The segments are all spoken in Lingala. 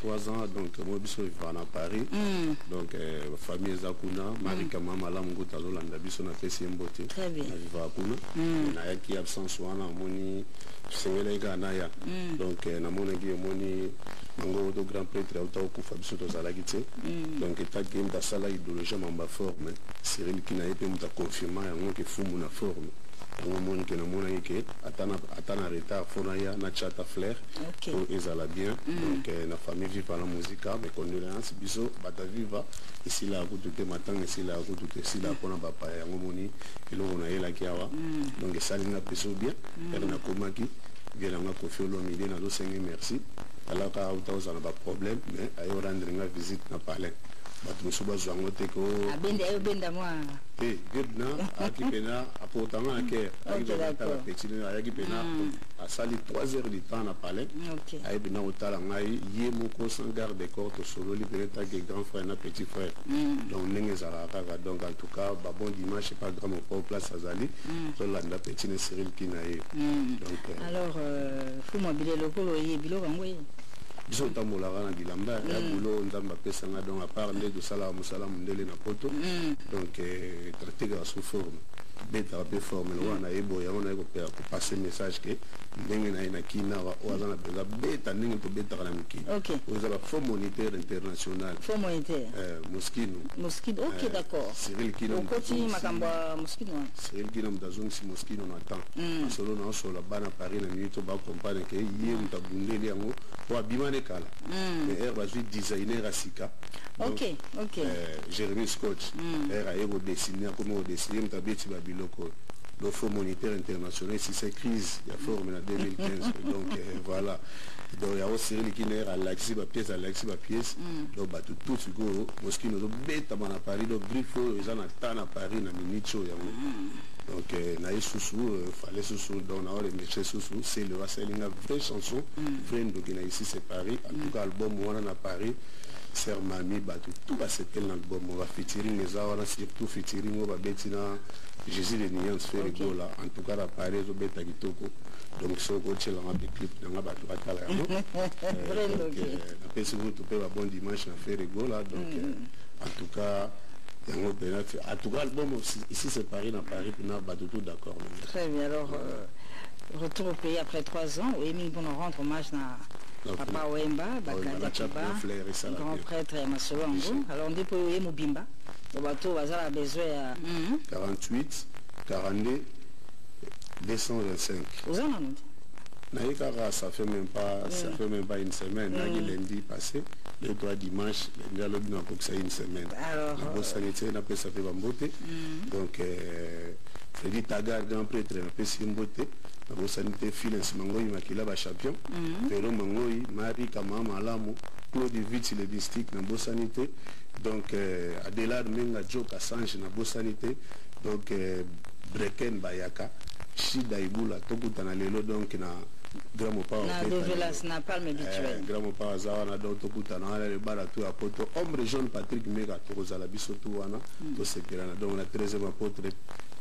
trois ans donc moi biso vivaka na paris mm. donc euh, famille eza kuna mm. marika mm. ma malamu nguta azolanda biso napesi ye mbote navivaka kuna mm. nayaki absence wana amoni tosengelaki kaka naya mm. donc euh, namonaki omoni yango to grand prêtre auta okufa biso tozalaki te mm. donc etaki ye moto asala idéologie mamba forme cyril kina ye mpe moto aconfirma yango ke fumu na forme yango omoni ke namonaki ke ata na retard mpo naya na chata flaire okay. pour ezala bien mm. donc eh, na famille viva la musica mes condoléances biso bata viva esila kutu te matanga esila kutu te esila mpo na bapaya yango moni eloko nayelaki awa mm. donc esali nga mpeso bien mm. ere nakomaki vie na nga kofi olomide nazosenge merci alaka auta ozala baproblème mais ayo rendre nga visite na palais bato mosusu bazwa yango te ko te vietna ayaki mpena akotanga na kere ayaki mpena ayaki mpena asali trois heures du temps na palais okay. ayebi na otala ngai ye moko sans garde de corps tosololi pene tanke grand frère na petit frère mm. donc ndenge ezalaka kaka donc en tout cas babon dimanche epa grand mopao place azali mm. tolanda petit ne cyril ki na ye mm. donc euh, alors euh, fuma bile lokolo oye biloko yango ye biso otambolaka na bilamba ya mm. bulo nzambe apesanga donc apart nde tosalaka mosala mondele na poto mm. donc euh, traite kaka sous forme betaka mpe forme lokola na ye boye yango naye kopela passer message que ndenge na ye na kin awa oyo aza na besoin beta ndenge tobetaka na mikili okay. oyo eza bafaux moniteur international faux moniteur euh, moskino moskino ok euh, d'accord cyril kino okoti makambo ya moskino wana cyril kino moto azongisi moskino na temps mm. asolo na osola bana paris na minute oyo bacompagne ke ye moto abundeli yango po abima ne kala mm. mais heure bazwi designer ya sika ok ok euh, jérémie scotch mm. heure aye kodesine akomi kodesine ye moto abeti babiloko donc Fonds monétaire international esisa crise ya forum na 2015 donc euh, voilà donc yango Cyril Kiner alakisi ba pièces alakisi ba pièces mm. donc bato tout sikoyo moskini ozobetama na Paris donc griffe oyo eza na temps na Paris na minute oyo yango mm. donc euh, naye susu euh, fallait susu donc na oremeshe susu c'est le asali nga vraie chanson mm. vraie ndoki na ici c'est Paris en tout cas album wana na Paris sœur mami bato tout basepeli na album bafitiring eza wana surtout fitiring oyo babeti na Jésus de nuance Ferre okay. Gola en tout cas la Paris ezo beta kitoko donc soki okotyela nga mpe clip na nga bato batala yango napesi kutu mpe ba bon dimanche na Ferre Gola donc mm. euh, en tout cas yango mpena en tout cas album ici c'est Paris na Paris mpena bato tout d'accord très bien alors euh, retour au pays après trois ans oyebi mingi mpona rendre hommage na papa wemba bakanda kiba grand prêtre ya masolo yango alors nde mpo oye mobimba Ba bato baza na besoin ya 48 42 225. Oza na nani? Naye kaka ça fait même pas ça fait même pas une semaine naki lundi passé le toi dimanche lundi alobi na kokisa une semaine. Alors nabosani tse na pesa pe bambote. Donc euh, Freddy Tagar grand prêtre na pesi mbote. Nabosani te Philens Mangoyi Makila ba champion. Pero Mangoyi, Marie Kamama Alamu, Claude Viti le district nabosani te. Donc euh, Adelard Menga Joe Kassange na bosani te donc euh, Breken Bayaka Shida Ibula tokutana lelo donc na grand mopao na develas na palme habituel eh, grand mopao aza wana donc tokutana wana libala tu ya poto ombre jaune patrick meka tokozala biso tu wana hmm. tosepelana donc na 13e apotre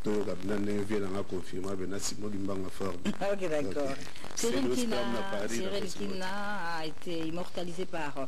toyoka bina ndenge vie nanga confirma bena simo limbanga fort ah, ok d'accord Cyril Kina, Cyril Kina a été immortalisé par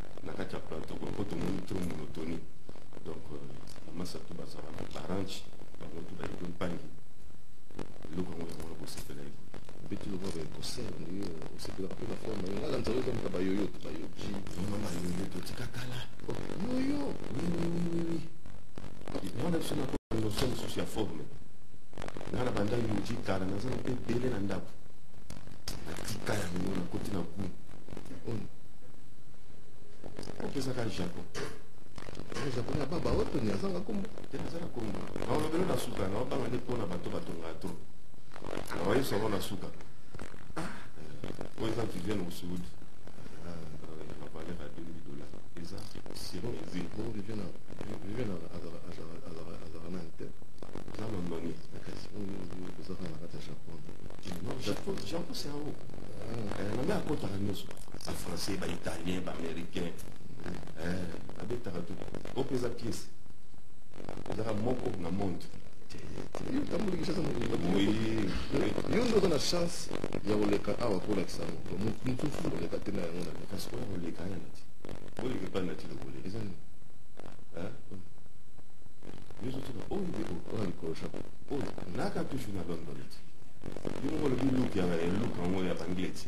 na kati ya plateau kuna mpo tomoni trop monotoni donc bamasa euh, to bazala na barange bango to bayebi mpangi eloko yango yango nakosepela ye beti lokola baye kosele ndenge euh, osepelaka mpe na forme yango ala nzala okamata bayoyo to bayoki mama bayoyo totika kala oh, yoyo wiwiwiwi mwana biso na notion mosusu ya forme ngai na banda yoji kala naza na mpe ebele na ndako natika yango nakoti na gou opesaka japon japon ya baba oyo toni azanga kombo te nazala kombo naolobelo na suka naobanga nde mpona bato batongaka to naoyebisa yango na suka oyo eza viviane mosuudi bavaleur ya 2000 dollars eza siron ezili bongo viviane viviane azalaka nani te eza londoni ozaka na kati ya japon japon c'est yango na nde akotaka nyonso ba français ba italien ba américain eh, babetaka tu o mpeza pièce ezaka moko na monde yo nde oza na chance ya koleka awa kolakisa moto mosusu koleka te na yango na kasi oyo koleka ya nati oleka epai nati lokole eza nini yo zotika oyo nde oyo likolo chapeau oyo naka toujours na london ti yo moko olobi luk ya luk yango ya bangleti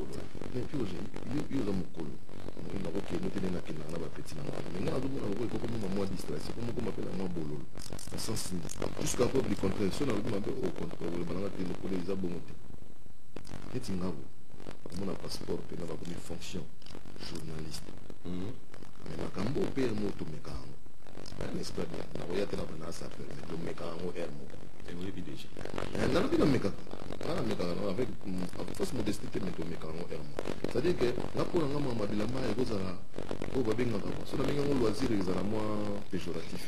koza mais puis ozali yo yo oza mokolo na kokende te ndenge nakendaka na bapeti na ngai mais ngai nazomona lokola ekokoma mwa mwa distraction po mokoma mpe na mwa bololo na sens nini jusqu'à preuve du contraire so nalobi mabe au contraire oloba nanga te mokolo eza bongo te neti ngabo omona passeport mpe na bakomi fonction journaliste mhm. mais makambo mpe yango tomeka yango n'est-ce pas bien nakoya te na bana asafere mais tomeka yango heure moko nalobi namekaka nga namekaka avec Mm, akokosi modesti te me tomeka yango heure moko cestadire ke nga mpo na nga mwa mabilamba ekozala oyo babengaka mwa so nabengi yango loisir ezala mwa péjoratif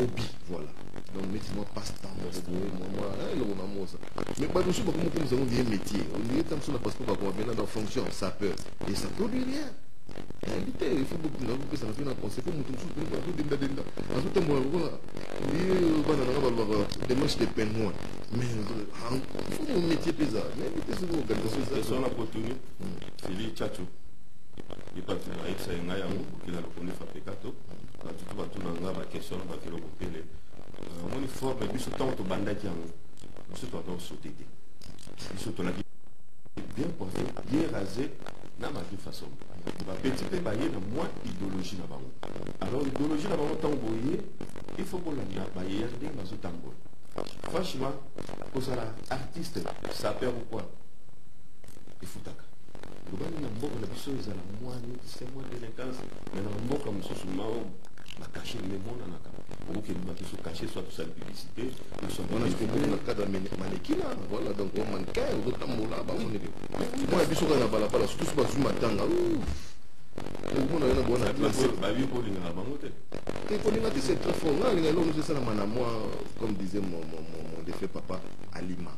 obi voilà donc neti mwa passe temps moko boye mwa mwa eh, eloko na mosa mais bato mosusu bakomi komisa yango vie métier olie ta mosusu na passeport bakoma bena dans fonction ça peut et ça produit rien nayebi te il faut bokunda kopesana mpe na conseil mpo moto mosusu azodendadenda azotambola lokola bana nanga balobaka demarche de pengoin Mais hein, faut mon métier pesa. Mais métier c'est quoi Quelque chose ça. Sur la potonie, c'est lui Tchatcho. Il pas faire avec ça ngai yango qu'il a reconnu fa pekato. Ba tout ba tout nanga ba question ba kilo ko pele. Mon effort mais biso tant to bandaki yango. Biso to to sauter te. Biso to la bien pensé, bien rasé na ma vie façon. Ba petit pe ba yena moi idéologie na bango. Alors idéologie na bango tant boyer, il faut qu'on la ba yende bazo tambola. franchement kozala artiste sapeur ou quoi efutaka lobani na mboka na biso ezala mwa nokisa mwa delinquance me na mboka mosusu mao bakashe memonanaka okokendima biso kashe soit tosali publicité na cadre manekina voilà donc omannequin ozotambola bamoneke mpo na biso kaka na balabala surtout so bazwi matanga omona yo na bona babi kolingaka bango te te kolinga te c'est très fort nga nalinga eloko nyonso esalama na mwa comme disait mon, mon, mon, mon défunt papa alima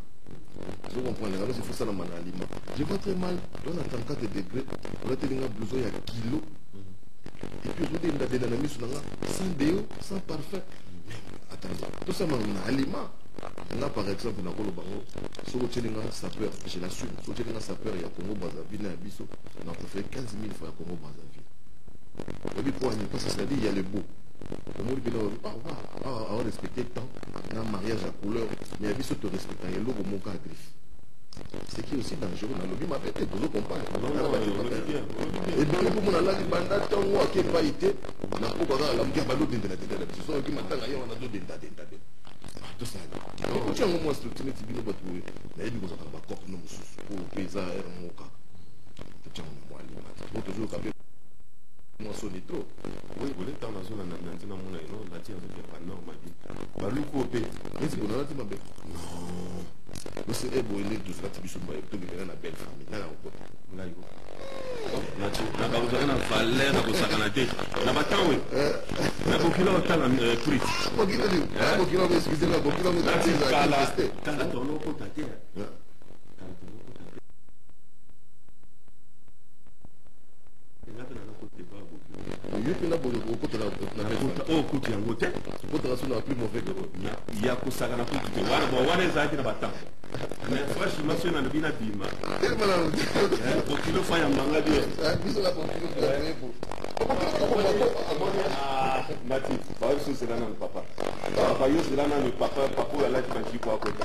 je comprends les annonces il faut ça la manalima je vois très mal dans la 34 degré on a tellement besoin ya kilo et puis aujourd'hui il a des amis sur là sans déo sans parfum attends tout ça manalima nga par exemple nakolo bango soki otyeli nga sapeur je l'assume soki otyeli nga sapeur ya congo brazzaville na ya biso na préfère 15 000 fois ya congo brazzaville oyebi mpo ani mpasi ezali ya lebo omoni bino awa respecte temps na mariage ya couleur mais ya biso torespectaka eloko moko ya griffe ce qui est aussi dangereux nalobi mabe te tozo comprendre ebele mpo mona alaki banda ntango ake epai te na mpo kaka alamuki abandi odendadenda na biso soki matanga ye wana azodendadenda te tosala ekoti yango mwa structure neti bino bato boye nayebi kozalaka na bacope no mosusu oyo mpe eza r moka totiango na mwa limati po tozoyoka mpe mosoni to oye kole ntango nazolanda na ntina mona ino nati yanzo te ba normal ye baluku oyo mpe neti bonalati mabe non ose e boye nde tozalaki biso baye tobimela na belle famille ngai nakokota ngai ko nati nabakozalaka na valeur na kosakana te na batango na bokila otala prix kala tolokota te yoki na boye okokotela oyo okuti yango te okotela so na plus mauvais dero ya kosaka na kutu te wana bon wana ezalaki na batemp mais franchement soki nalobi na bima bokilo fa ya mbanga bio mati bayoso ozela nanu papa papa yo ozela nanu papa papa oyo alaki bajipo akota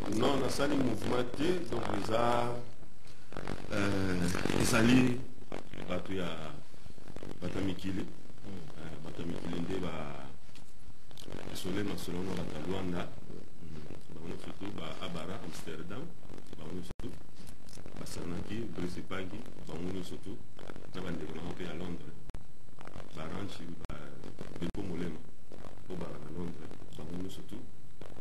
Non, nasali mouvement te, donc eza euh, ezali bato ya bato ya mikili euh, bato ya mikili nde ba esole masolo na bato ya Luanda bango nyonso tu ba Abara Amsterdam bango nyonso tu basanaki Brice Pagi bango nyonso tu na bandeko na bango mpe ya Londres baranchi ba Bilko Molema obalaka Londres bango nyonso tu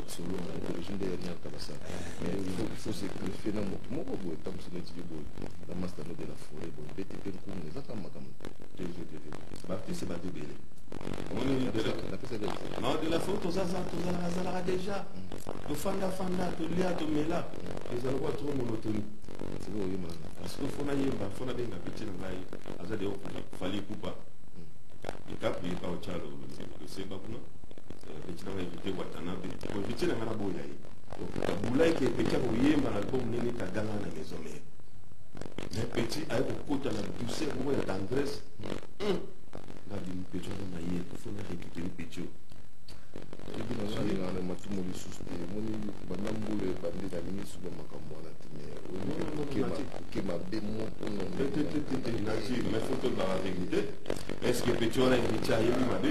masolo na religion nde yanial kabasa fose greffe na moto moko boye ntangoso neti yo boye na mastano de la foret boye bete mpe nkumu eza kaka makambo bapese bato ebele de la foret tozalaka deja tofandafanda tolia tomela eza lokola toko monotoni sikoyo oyemba parce que fona yemba fona benga peti na ngai aza de fali kupa ekapu yeka ocalo losemba kuna petit nanga evite watanabe ko evite nanga na boya ye bulai ke petit akoyemba na album ndenge kaganga na maison mère mais petit aye kokota na douceur moko ya tendresse ngabi mpecho aza maye tofona rekite mpecho soki nasalela na matumu lisusu te omoni banda mbula ebandi na misu na makambo wana te meoke mabe mokononazwi mais fo tolobaka verité est ce que pecho wana emitya ayebi mabe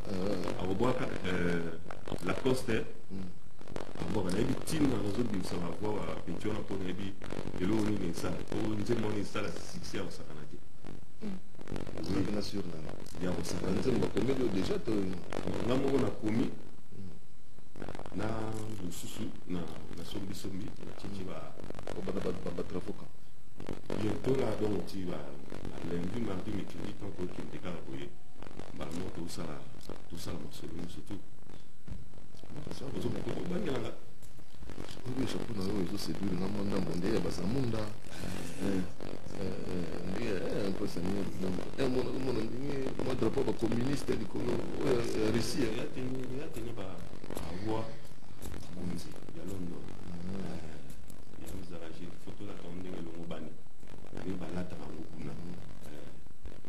euh, akobwaka euh, lacoste mm. abwaka nayebi ntina nazobimisa bavoi ya peti wana mpo nayebi eloko nini esala po nzembo wana esala succès ya kosakana te ozalaki na sur nanga ya kosakana nzembo bakomeli deja to nga moko nakomi na mosusu na sombisombi natiki batrafoka bientôt na donc ti ba lundi mardi mercredi ntango tokende kaka boye mbala moko tosala tosala masolo nyonso tu ozobangelanga oyo chapeau na oyo ezosedule na mwa ndambo nde ya bazamunda nde mpesa niniomona ndenge mwa drapo ya bacommuniste likolo ya russie yatene baroi bonzi ya london ezalaki foto na kao ndenge elongobani nde balataka yango kuna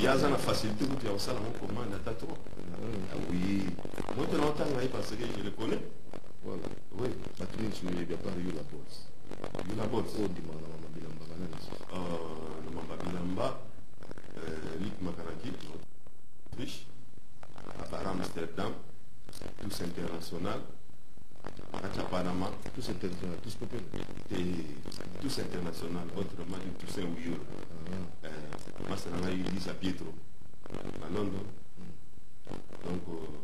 ye aza na facilité kutu ya kosala ngo commande ata trop ah oui moi tena otanga ye parce que je le connais voilà oui bato mingi soki oyebi apart yo la bols yo la bols oyo ndimaka na mama bilamba bana na susu na mama bilamba lik makanaki autriche apart amsterdam tous international acha panama tous international tous popele tous international autrement tous un wiyolo eh, masta na ngai lisa pietro na london donc euh,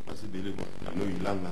basi ebele bwa na noilanga